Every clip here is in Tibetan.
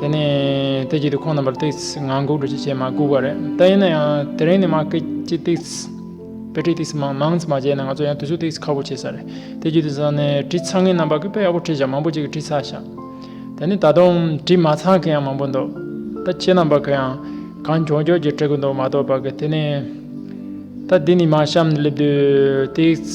དེ་ནས་དེ་རྗེས་དུ་ཁོང་རྣམ་པར་སྟེགས་ང་འགུགས་འགྲོ་ཅི་བྱེད་མ་སྒུག་པ་རེད་ད་ཡིན་ན་ཡང་དེ་རིང་ནས་མ་སྐད་ཅིག་སྟེགས་དཔེ་ཁྲིད་སྟེགས་མང་མང་ཙམ་མ་བྱས་ན་ང་ཚོ་ཡང་དུས་སུ་སྟེགས་ཁ་བོ་བྱེད་ས་རེད་དེ་རྗེས་དུ་ཟ་ནས་བྲིས་ཚར་ངེད་རྣམ་པ་ཀི་དཔེ་ཡག་པོ་ཁྲིད་བཞག་མང་པོ་ཅིག་གི་བྲིས་ཚར་བཞག་དེ་ནི་ད་དུང་བྲིས་མ་ཚར་མཁན་ཡང་མང་པོ་འདུག་ད་ཁྱེད་རྣམ་པ་ཀི་ཡང་གང་མགྱོགས་མགྱོགས་ཀྱིས་བྲི་གི་འདུག་མ་གཏོགས་པ་ཀི་དེ་ནས་ད་འདི་ནས་མ་བཤམས་ནས་སླེབས་དུས་སྟེགས་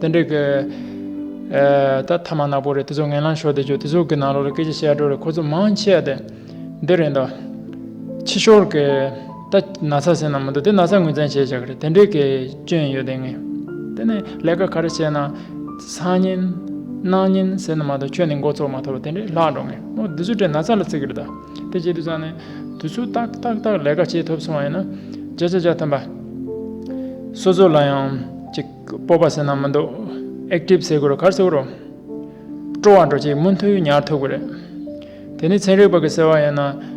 དེ་འདྲ་གི། ད་ཐ་མ་ནག་པོ་རེད་དེ་ཚོ་ངན་ལང་ཤོར་དེ་ཆོག་དེ་ཚོ་གི་ནང་ལོག་ལ་སྐད་ཆ་བཤད་སྒྲོ་རེད་ཁོ་ཚོ་མང་ཆེ་དེ་འདི་རེད་འདོ། ཕྱི་ཤོར་གི། ད་ན་ཚ་ཟེར་ན་མི་འདུག་དེ་ན་ཚ་ངོས་ཚན་བྱས་བྱས་གི་རེད་དེ་འདྲ་གི་སྐྱོན་ཡོད་དེ་ངས། དེ་ནས་ལས་ཀ་ག་རེ་བྱས་ན། སང་ཉིན། གནངས་ཉིན་ཟེར་ན་མ་གཏོགས་ཁྱོད་ནས་འགོ་ཚོགས་མ་ཐོབ་དེ་འདྲས་ལྷག་འགྲོ་ངས་མོ་དེ་ཚོ་དྲན་ན་ཚ་ལ་ཚིག་གི་རེད་ད། དེ་བྱས་དུས་ཚང་ནས། དུས་ཚོད་ཏག་ཏག་ཏག་ལས་ཀ་བྱས་ཐུབ་སོང་བ་ཡིན་ན། བྱས་བྱས་བྱས་ཐོན་པ། སོ་སོ་ལ་ཡང། ཅིག། སྤོབས་པ་སེར་སྣ་མི་འདུག Active ཟེར་དགོས་རོ་གར་ཟེར་དགོས་རོ། སྤྲོ་བ་འགྲོ་ཅིག་མུ་མཐུད་ཉར་ཐུབ་གི་རེད། དེ་ནི་ཚན་རིག་པ་གི་ཟེར་བ་ཡིན་ན།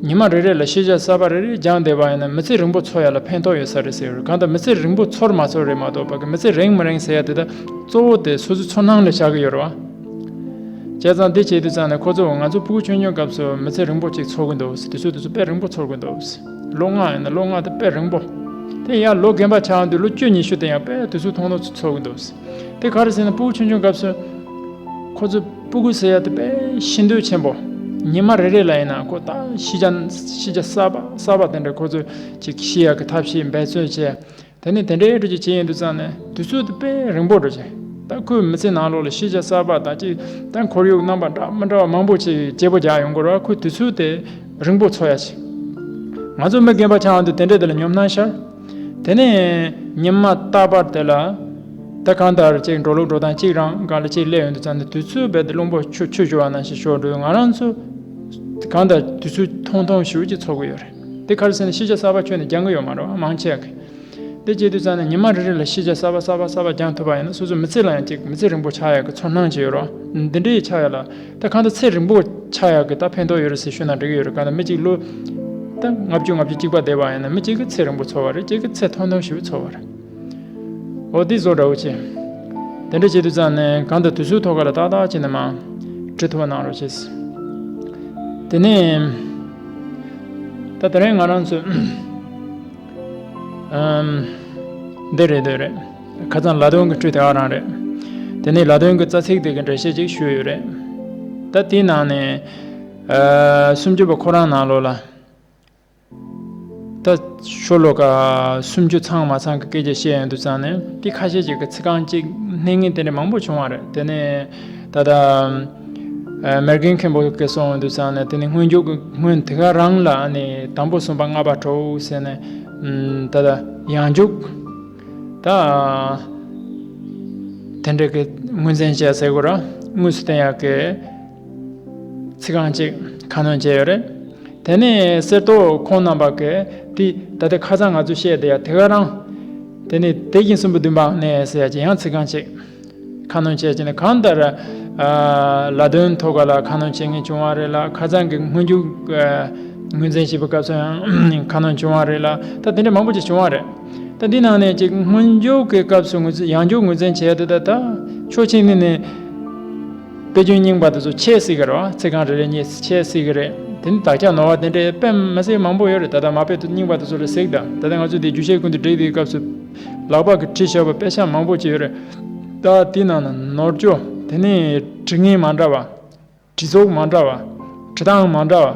ཉི་མ་རེ་རེ་ལ་ཤེས་བྱ་གསར་པ་རེ་རེ་སྦྱངས་བསྡད་པ་ཡིན་ན་མི་ཚེ་རིང་པོ་འཚོ་ཡ་ལ་ཕན་ཐོག་ཡོད་ས་རེད་ཟེར་གི་རེད་གང་ལྟར་མི་ཚེ་རིང་པོ་འཚོར་མ་འཚོར་རེད་མ་གཏོགས་བ་གི་མི་ཚེ་རེངས་མི་རེངས་ཟེར་ཡ་དེ་དག་གཙོ་བོ་དེ་སོ་སོའི་ཚོར་སྣང་ལས་ཆགས་གི་ཡོད་རེད་བ། བྱས་ཙང་འདི་བྱས་དུས་ཙང་ནས་ཁོ་ཚོས་ང་ཚོ་སྤུ་གུ་ཆུང་ཆུང་སྐབས་སུ་མི་ཚེ་རིང་པོ་ཅིག་འཚོ་གི་འདུག་དེ་ཚོས་དེ་ཚོ་དཔེ་རིང་པོ་ཚོར་གི་འདུག། ལོ་ལྔ་ཡིན་ན་ལོ་ལྔ་དང་དཔེ་རིང་པོ། དེ་ཡང་ལོ་རྒན་པ་ཆགས་འདུག་ལོ་བཅུ་ཉི་ཤུ་དེ་ཡང་དཔེ་དུས་ཚོད་ཐུང་ཐུང་ཚོ་ཚོགས་ཀྱི་འདུག་དེ་ག་རེ་ཟེར་ན་སྤུ་གུ་ཆུང་ཆུང་སྐབས་སུ། ཁོ་ཚོས་སྤུ་གུ་ཟེར་ཡ་དེ་དཔེ་ཤིན་ཏུ་ཆེན་པོ། ཉིན་མ་རེ་རེ་ལ་ཡིན་ན་ཁོ་ད་ཤི་རྒྱ་གསར་པ་གསར་པ་དེ་འདྲ་ཁོ་ཚོས་ཅིག་ཤི་ཡ་གི་ཐབས་ཤེས་འབད་བརྩོན་བྱས། དེ་ནས་དེ་འདྲའི་དྲོད་ཀྱི་ཆས་ཡུན་དུ་བརྩམས་ནས་དུས་ཚོད་དུ་དཔེ་རིང་པོར་འགྲོ་ཞིང། ད་ཁོའི་མི་ཚེའི་ནང་ལོགས་ལ་ཤེས་བྱ་གསར་པ་དག་ཅིག་དང་ཁོར་ཡུག་རྣམ་པ་འདྲ་མི་འདྲ་བ་མང་པོ་ཅིག་གིས་བརྗེ་པོ་རྒྱག་ཡོང་སྐོར་བར་ཁོས་དུས་ཚོད་དེ་རིང་པོ་འཚོ་ཡ་བྱས། ང་ཚོ་མི་རྒན་པ་ཆགས་འདུག་དེ་འདྲས་དེ་ལ་ཉོབ་སྣང་ཤར། དེ་ནས་ཉི་མ་རྟག་པར་དེ་ལ། དེ་གང་ལྟར་ཅིག་འགྲོ་ལུགས་འགྲོ་སྟངས་གཅིག་རང་འགའ་ལ་ཅིག་སླེབས་ཡུན་དུ་བརྩམས་ནས་དུས་ཚོད་རྦད་དེ་རླུང་པོ་ཆུ་ཆུ་བྱུང་བ་ན་ཞིག་ཞོར་དུ་ང་རང་ཚོ་གང་ལྟར་དུས་ཚོད་ཐུང་ཐུང་ཞིག་ཅིག་འཚོ་གི་ཡོད་རེད། འདི་ཁར་སེང་ནས་ཤེས་བྱ་གསར་པ་ཁྱོན་ནས་སྦྱང་གི་ཡོད་མ་རེད་བ་མང་ཆེ་གི། དེ་སྐྱེས་དུས་ཙམ་ནས་ཉི་མ་རེ་རེ་ལ་ཤེས་བྱ་གསར་པ་གསར་པ་གསར་པ་སྦྱང་ཐུབ་པ་ཡིན་ན་སོ་སོའི་མི་ཚེ་ལ་ཡང་ཅིག་མི་ཚེ་རིང་པོ་ཆགས་ཡག་གི་ཚོར་སྣང་ཅིག་ཡོད་རེད། འདི་འདྲའི་ཡི་ཆགས་ཡག་ལ། ད་གང་ལྟར་ཚེ་རིང་པོ་ཆགས་ཡག་གི་ད་ཕན་ཐོགས་ཡོད་རེད་ཟེར་ཤོད་ན་འགྲིག་གི་ཡོད་རེད་གང་ལྟར་མི་གཅིག་ལོ། ད་ལྔ་བཅུ་ལྔ་བཅུ་གཅིག་པ་བསྡད་པ་ཡིན་ན་མི་གཅིག་གི་ཚེ་རིང་པོ་ཚོར་བ་རེད་གཅིག་གི་ཚེ་ཐུང་ཐུང་ཞིག་ཚོར་བ་རེད། ཨོ་འདི་བཟོ་འདྲ་བོ་བྱེད། དེ་འདྲ་བྱེད་དུས་ཙམ་ནས་གང་དུ་དུས་ཚོད་ཐོ་ག་ལ་ཏག་ཏག་བྱས་ནས་མང། བྲིས་ཐུབ་པ་གནང་རོགས་བྱས། དེ་ནས། ད་དེ་རིང་ང་རང་ཚོས། འདི་རེད་འདོད་རེད། ཁ་ཙང་ལ་དོན་གྱི་འཕྲུལ་དེ་ཨ་རང་རེད། དེ་ནས་ལ་དོན་གྱི་རྩ་ཚིག་དེ་གའི་འགྲེལ་བཤད་ཅིག་ཞུས་ཡོད་རེད། ད་དེའི་ནང་ནས། སུམ་ཅུ་པ་ཁོ་རང་ནང་ལོགས་ལ། ད་ཤོ་ལོ་ཀ་སུམ་ཅུ་ཚང་མ་ཚང་གི་སྐད་ཆ་བཤད་ཡོང་དུས་ཚང་ནས་འདི་ཁ་ཤས་ཀྱི་ཚིག་རྐང་གཅིག་གནས་ངེས་དེ་འདྲ་མང་པོ་བྱུང་བ་རེད་དེ་ནས་ད་ལྟ་མེར་གན་མཁན་པོ་སྐད་སོང་ཡོང་དུས་ཚང་ནས་དེ་ནི་སྔོན་འཇུག་གི་སྔོན་དེ་ག་རང་ལ་ནི་དང་པོ་གསུངས་པ་ལྔ་པ་དྲོའུ་ཟེར་ནས་ད་ལྟ་ཡང་འཇུག་ད་དེ་འདྲ་གི་དངོས་ཚན་བཤད་ཟེར་དགོས་ར་དངོས་སུ་བསྟན་ཡག་གི། ཚིག་རྐང་གཅིག་ཁ་སྣོན་བྱས་ཡོད་རེད། དེ་ནས་གསེར་ཏོག་ཁོང་རྣམ་པ་གས་དེ་ད་ལྟའི་ཁ་ཚང་ང་ཚོས་བཤད་དེ་ཡ་དེ་ག་རང། དེ་ནས་དེ་བཞིན་གསུམ་པོ་བདུན་པའང་ནས་ཟེར་ཡ་ཅི་ཡང་ཚིག་རྐང་གཅིག་ཁ་སྣོན་བྱས་ཅི་ནས་གང་ལྟར། ལ་དོན་ཐོ་ག་ལ་ཁ་སྣོན་བྱེད་ངེས་བྱུང་བ་རེད་ལ་ཁ་ཚང་གི་སྔོན་འཇུག་ངོས་འཛིན་བྱེད་པའི་སྐབས་སུ་ཡང་ཁ་སྣོན་བྱུང་བ་རེད་ལ་ད་དེ་འདྲ་མང་པོ་ཅིག་བྱུང་བ་རེད། ད་འདི་ནང་ནས་ཅིག་སྔོན་འཇུག་གི་སྐབས་སུ་ཡང་འཇུག་ངོས་འཛིན་བྱས་དེ་ད་ད་ཕྱོགས་ཕྱི་ནས་ནས། དཔེ་རྒྱུན་རྙིང་པ་དེ་ཚོ་ཆད་སྲིད་གི་རེད་བ་ཚིག་རྐང་རེ་རེ་གཉིས་ཆད་སྲིད་གི་རེད་དེ་ནི་དག་ཆ་ནོར་བ་དེ་འདྲའི་དཔེ་མི་སྲིད་མང་པོ་ཡོད་རེད་ད་ལྟ་མ་དཔེ་རྙིང་པ་དེ་ཚོ་ལ་གཟིགས་དང་ད་ལྟ་ང་ཚོས་དེ་རྒྱུ་ཆའི་ཀུན་ཏུ་བསྒྲིགས་དེའི་སྐབས་སུ་ལག་པ་གི་བྲིས་ཤོག་པ་དཔེ་ཆ་མང་པོ་ཅིག་ཡོད་རེད་ད་དེའི་ནང་ན་ནོར་འཁྱོལ་དེ་ནི་བྲི་ངེས་མ་འདྲ་བ། བྲི་ཚོགས་མ་འདྲ་བ། བྲི་སྟངས་མ་འདྲ་བ།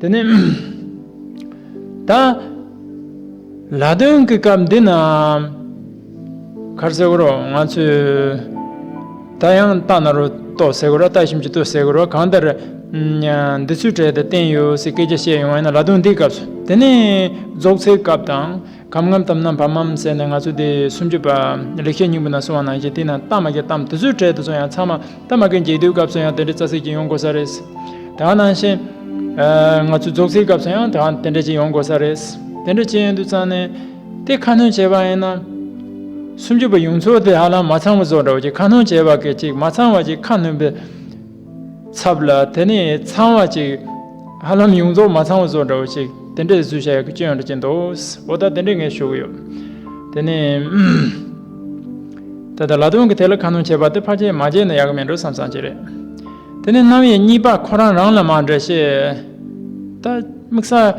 དེ་ནས། ད། ལ་དོན་གྱི་སྐབས་འདི་ན། ཁར་སེ་གོ་རོ་ང་ཚོས། ད་ཡང་རྟ་ན་རོ་ལྟོ་སེ་གོ་ར་ལྟ་ཞིམ་གྱི་ལྟོ་སེ་གོ་རོ་གང་ལྟར། འདི་ཚོའི་གྲས་དེ་བསྟན་ཡོད་ཟེར་སྐད་ཆ་བཤད་ཡོང་བ་ཡིན་ན་ལ་དོན་འདིའི་སྐབས་སུ་དེ་ནས་རྫོགས་ཚེའི་སྐབས་དང། གམ་ངམ་དམ་ནམ་བམ་མམ་ཟེར་ནས་ང་ཚོ་དེ་སུམ་ཅུ་པ་ལེགས་བཤད་སྙིང་པོ་ན་སོང་བ་ནང་བཞིན་དེ་ན་རྟ་མ་རྒྱལ་གཏམ་དེ་ཚོའི་གྲལ་དུ་སོང་ཡང་ཚང་མ་རྟ་མ་རྒན་འགྱེལ་དུས་སྐབས་སུ་ཡང་དེ་འདྲའི་རྩ་ཚིག་ཅིག་ཡོང་དགོས་ས་རེད། དེ་འང་ནང་བཞིན། ང་ཚོའི་རྫོགས་ཚིག་སྐབས་སུ་ཡང་དེ་འང་དེ་འདྲ་ཅིག་ཡོང་དགོས་ས་རེད། དེ་འདྲ་ཅིག་ཡོང་དུས་ཙང་ནས་དེ་ཁ་སྣོན་བྱས་པ་ཡིན་ན། སུམ་ཅུ་པ་ཡོངས་རྫོགས་དེ་ཧ་ལམ་མ་ཚང་བ་བཟོ་འདྲ་བ་ཅིག་ཁ་སྣོན་བྱས་པ་གལ་ཆེ་གི་མ་ཚང་བ་ཅིག་ཁ་སྣོན་པའི། ཚབ་ལ་དེ་ནི་ཚང་བ་ཅིག། ཧ་ལམ་ཡོངས་རྫོགས་མ་ཚང་བ་སོགས་འདྲ་བོ་ཅིག་དེ་འདྲའི་བཟོས་བྱ་ཡག་གི་སྐྱོན་ཡང་འདྲ་སྐྱེས་འདུག་འོ་ད་དེ་འདྲའི་ངས་ཞུ་གི་ཡོད། དེ་ནི། ད་ལྟ་ལ་དོན་གྱི་ཐད་ལ་ཁ་ནོན་བྱེད་པ་དེ་ཕར་བྱས་མར་བྱས་ན་ཡག་གི་མེད་འགྲོ་བསམ་བསམ་གྱི་རེད། དེ་ནི་རྣམ་དབྱེ་གཉིས་པ་ཁོ་རང་རང་ལ་མ་འདྲ་ཤེས། ད། དམིགས་ས།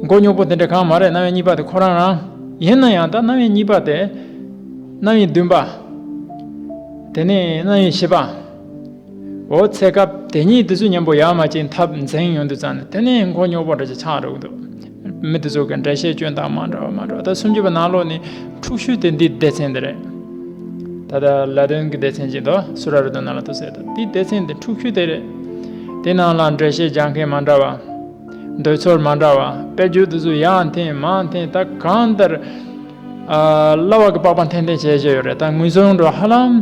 མགོ་རྙོག་པོ་དེ་འདྲ་གང་མ་རེད་རྣམ་དབྱེ་གཉིས་པ་དེ་ཁོ་རང་རང། ཡིན་ན་ཡང་ད་རྣམ་དབྱེ་གཉིས་པ་དེ། རྣམ་དབྱེ་བདུན་པ། དེ་ནི་རྣམ་དབྱེ་བཞི་པ། འོ་ཚེ་སྐབས་དེ་ཉིད་དུ་ཆུ་མཉམ་པོ་ཡང་མ་སྐྱེས་འཐབ་འཛིང་ཉུང་དུ་བརྩམས་ནས་དེ་ནས་མགོ་རྙོག་པོ་འདྲ་ཅིག་ཆགས་འགྲོ་གི་འདུག་མི་དེ་ཚོ་གི་འགྲེལ་བཤད་སྐྱོན་དང་མ་འདྲ་བ་མ་འདྲ་བ་ད་སུམ་ཅུ་པ་ནང་ལོགས་ནི་འཁྲུག་ཤུལ་དེ་འདི་སྡེ་ཚན་འདི་རེད། ད་ལྟ་ལ་དོན་གྱི་སྡེ་ཚན་གྱི་མདོ་སུ་ར་རུ་དོན་ནང་ལ་ཐུག་ཟེར་དང་འདི་སྡེ་ཚན་འདི་འཁྲུག་ཤུལ་དེ་རེད། དེ་ནང་ལ་འགྲེལ་བཤད་རྒྱག་མཁན་མ་འདྲ་བ། འདོད་ཚོར་མ་འདྲ་བ་དཔེ་བརྗོད་དུ་ཚོ་ཡང་འཐེན་མང་འཐེན་ད་གང་ལྟར། གླ་བ་གི་པགས་པ་འཐེན་འཐེན་བྱས་བྱས་ཡོད་རེད་ད་ངུས་སོང་འགྲོ་ཧ་ལམ།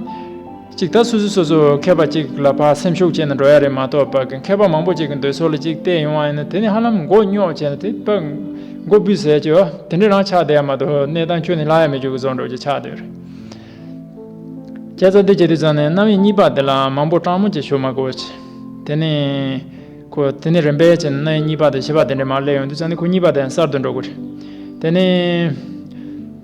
གཅིག་ད་སུ་སུ་སོ་སོ་མཁས་པ་གཅིག་ལ་ཕར་སེམས་ཤུགས་བསྐྱེད་ན་འགྲོ་ཡ་རེད་མ་གཏོགས་པ་མཁས་པ་མང་པོ་གཅིག་གི་འདོད་ཚོད་ལ་གཅིག་བལྟས་ཡོང་བ་ཡིན་ན་དེ་ནི་ཧ་ལམ་མགོ་རྙོག་ཆེ་ན་དེ་པ་མགོ་འབུས་ཟེར་གྱི་དེ་འདྲས་རང་ཆགས་བསྡད་ཡ་མ་གཏོགས་གནས་སྟངས་ཁྱོད་ནི་སླ་ཡ་མེད་རྒྱུག་གི་བཟོ་འགྲོ་རྒྱུ་ཆགས་བསྡད་རེད། སྐྱ་ཚ་འདི་བྱེད་དུས་ཙང་ནས་རྣམ་དབྱེ་གཉིས་པ་འདི་ལ་མང་པོ་སྤྲང་མོ་བྱེད་ཞོར་མ་གོ་ཆེ། དེ་ནི་ཁོ་དེ་ནི་རིམ་པས་ཆེ་ན་རྣམ་དབྱེ་གཉིས་པ་དང་བཞི་པ་དེ་འདྲས་མར་སླེབས་ཡོང་དུས་ཙང་ནི་ཁོ་གཉིས་པ་དེ་ཡང་གསར་དུ་འགྲོ་དགོས་རེད། དེ་ནི།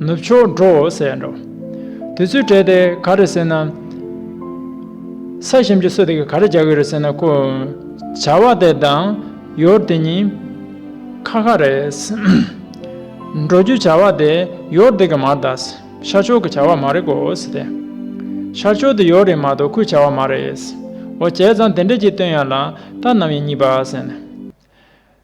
ནུབ་ཕྱོགས་འགྲོ་ཟེར་འགྲོ། དུས་ཚོད་སྤྲད་དེ་ག་རེ་ཟེར་ན། ས་ཞིམ་གྱི་སོ་དེ་ག་རེ་རྒྱག་གི་རེད་ཟེར་ན་ཁོས། བྱ་བ་དེ་དང། ཡོར་དེ་གཉིས། ཁ་ཁ་རེད། འགྲོ་རྒྱུའི་བྱ་བ་དེ་ཡོར་དེ་གི་མ་གཏགས། ཤར་ཕྱོགས་ཀྱི་བྱ་བ་མ་རེད་གོ་ཟེར་ཏེ། ཤར་ཕྱོགས་དེ་ཡོར་རེད་མ་གཏོགས་ཁོའི་བྱ་བ་མ་རེད། འོ་བྱས་ཙང་དེ་འདྲ་གྱིས་སྟོན་ཡ་ལ། ད་ནམ་ཡིན་གཉིས་པ་ཟེར་ནས།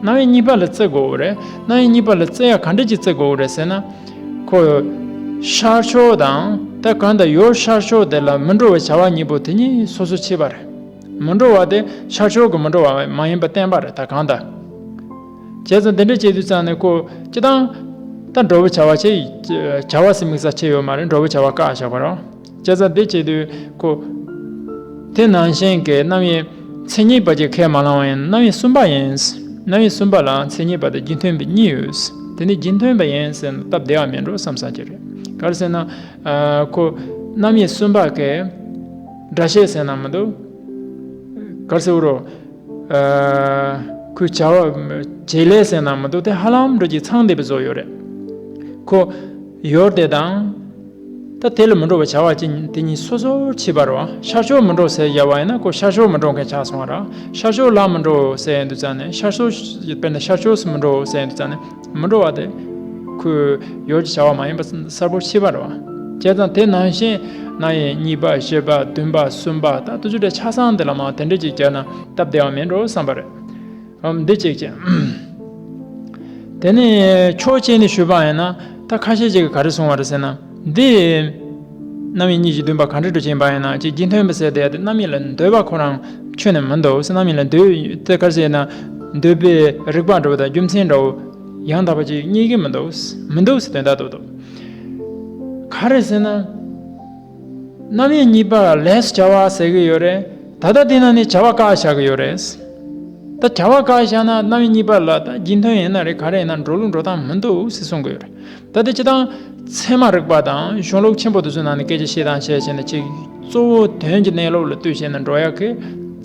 སྣང་བའི་གཉིས་པ་ལ་བརྩི་དགོས་རེད། སྣང་བའི་གཉིས་པ་ལ་བརྩི་ཡ་ག་འདྲ་གྱིས་བརྩི་དགོས་རེད་ཟེར་ན། ཁོ། ཤར་ཕྱོགས་དང་དེ་གང་དུ་ཡོད་ཤར་ཕྱོགས་དེ་ལ་མི་འགྲོ་བའི་བྱ་བ་གཉིས་པོ་དེ་གཉིས་སོ་སོ་ཕྱེས་པ་རེད། མི་འགྲོ་བ་དེ་ཤར་ཕྱོགས་ཀྱི་མི་འགྲོ་བ་མ་ཡིན་པ་བསྟན་པ་རེད་ད་གང་དུ། བྱས་ཙང་དེ་འདྲ་བྱས་དུས་ཙང་ནས་ཁོ་སྤྱི་བཏང། ད་འགྲོ་བའི་བྱ་བ་ཆེ། བྱ་བ་སེ་མིག་ས་ཆེ་ཡོད་མ་རེད་འགྲོ་བའི་བྱ་བ་བཀག་བཞག་པ་རེད། བཅད་རྩ་འདི་བཅད་དུས་ཁོ། དེ་ནང་བཞིན་གྱི་རྣམ་དབྱེ་མཚན་ཉིད་པ་གཅིག་ཁས་མ་བླང་བ་ཡིན་རྣམ་དབྱེ་གསུམ་པ་ཡིན། རྣམ་དབྱེ་གསུམ་པ་ལ་མཚན་ཉིད་པ་དང་རྒྱུ་མཐུན་པའི་གཉིས་ཡོད། དེ་ནི་རྒྱུ་མཐུན་པ་ཡིན་ཟེར་ན་སྟབས་བདེ་བ་མིན་འགྲོ་བསམ་ས་ཀྱི་རེད། ག་རེ་ཟེར་ན། ཁོ། རྣམ་དབྱེ་གསུམ་པ་གས། སྒྲ་བཤད་ཟེར་ན་མི་འདུག། ག་རེ་ཟེར་རོ། ཁོའི་བྱ་བ། བྱེད་ལས་ཟེར་ན་མི་འདུག་དེ་ཧ་ལམ་འགྲོ་གཅིག་ཚང་འདས་པའི་བཟོ་ཡོད་རེད། ཁོ། ཡོད་དེ་དང། ད་དེ་ལ་མི་འགྲོ་བ་བྱ་བ་ཅན་དེ་གཉིས་སོ་སོར་ཕྱེས་པར་རོ། ཤར་ཕྱོགས་མི་འགྲོ་སའི་ཡལ་བ་ཡིན་ན་ཀོ་ཤར་ཕྱོགས་མི་འགྲོ་མཁན་ཆགས་སོང་བ་ར་ཤར་ཕྱོགས་ལ་མི་འགྲོ་སའི་ཡན་དུ་བཙལ་ནས་ཤར་ཕྱོགས་དཔེར་ན་ཤར་ཕྱོགས་སུ་མི་འགྲོ་སའི་ཡན་དུ་བཙལ་ནས་མི་འགྲོ་བ་དེ་ཁོའི་ཡོད་ཀྱི་བྱ་བ་མ་ཡིན་པ་གསལ་པོར་ཕྱེས་པར་རོ། བྱས་ཙང་དེ་ནང་བཞིན་ན་ཡན་གཉིས་པ་བཞི་པ་བདུན་པ་གསུམ་པ་དང་དུ་བཅུ་དྲུག་ཆགས་སམ་དེ་ལ་མང་དེ་འདྲས་ཀྱིས་བརྒྱབ་ན་སྟབས་བདེ་བ་མིན་འགྲོ་བསམ་པ་རེད། འདི་ཅིག་ཅེས། དེ་ནས་ཆོས་སྤྱད་ནས་ཞུས་པ་ཡིན་ན་ད་ཁ་ཤས་ཅིག་གིས་ག་རེ་གསུང་བ་རེད་ཟེར་ན། འདི་རྣམ་དབྱེ་གཉིས་ཀྱི་འདུན་པ་གང་དྲིས་དྲི་བྱས་པ་ཡིན་ན་ཅིག་རྒྱུ་མཐུན་པ་ཟེར་དེ་ཡང་རྣམ་དབྱེ་ལ་འདོད་པ་ཁོ་རང་ཆོས་ནི་མི་འདུག་གསེར་རྣམ་དབྱེ་ལ་འདོད་དེ་ག་རེ་ཟེར་ན། འདོད་པའི་རིགས་པ་འདྲ་བོ་དང་རྒྱུ་མཚན་འདྲ་བོ་ཡང་དག་པ་ཅིག་རྙེད་ཀྱི་མི་འདུག་མི་འདུག་ཟེར་དོན་དག་འདུག་འདུག་ག་རེ་ཟེར་ན། རྣམ་དབྱེ་གཉིས་པ་ལ་ལྷས་བྱ་བ་ཟེར་གྱི་ཡོད་རེད་ད་ལྟ་དེ་ནང་ནས་བྱ་བ་ཀ་བཞག་གི་ཡོད་རེད། ད་བྱ་བ་ཀ་བཞག་ན་རྣམ་དབྱེ་གཉིས་པ་ལ་ད་རྒྱུན་ཐོན་ཡིན་ན་རེད་ག་རེ་ཡིན་ན་འགྲོ་ལུགས་འགྲོ་སྟངས་མི་འདུག་ཟེར་གསུང་གི་ཡོད་རེད་ད་དེ་ཅི་དང། ཚད་མ་རིག་པ་དང་གཞུང་ལུགས་ཆེན་པོ་དེ་ཚོའི་ནང་ནས་སྐད་ཆ་བཤད་དང་བཤད་བྱས་ནས་ཅིག་གཙོ་བོ་དོན་གྱི་གནས་ལུགས་ལ་ལྟོས་བྱས་ནས་འགྲོ་ཡག་གི།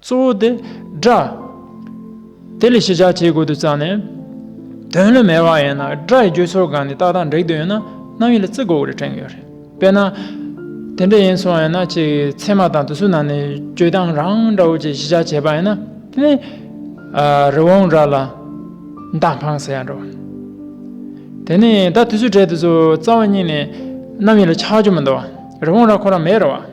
གཙོ་བོ་དེ། སྒྲ། དེ་ལས་ཤེས་བྱ་བྱེད་དགོས་དུ་བརྩམས་ནས། དོན་ལུས་མེད་པ་ཡིན་ན་སྒྲ་ཡི་བརྗོད་ཆོ་ག་ནི་རྟགས་དང་འགྲིག་དུ་ཡོད་ན་རྣམ་དབྱེ་ལ་བརྩི་དགོས་རེ་དྲན་གྱི་ཡོད་རེད། དཔེར་ན། དེ་འདྲ་ཡིན་སོང་ཡིན་ན་ཁྱེད་ཀྱི་ཚད་མ་དང་དུ་སུ་ནང་ནས་བརྗོད་སྟངས་རང་འདྲ་བོ་ཅིག་ཤེས་བྱ་བྱས་པ་ཡིན་ན་དེ་ནི། རི་བོང་སྒྲ་ལ། མདའ་འཕངས་ཟེར་ཡང་འགྲོ། དེ་ནི་ད་དུ་སུ་གྲལ་དུ་སུ་རྩ་བ་གཉིས་ནས་རྣམ་དབྱེ་ལ་ཆགས་རྒྱུ་མི་འདུག་རི་བོང་ར་ཁོ་རང་མེད་རེད་བ།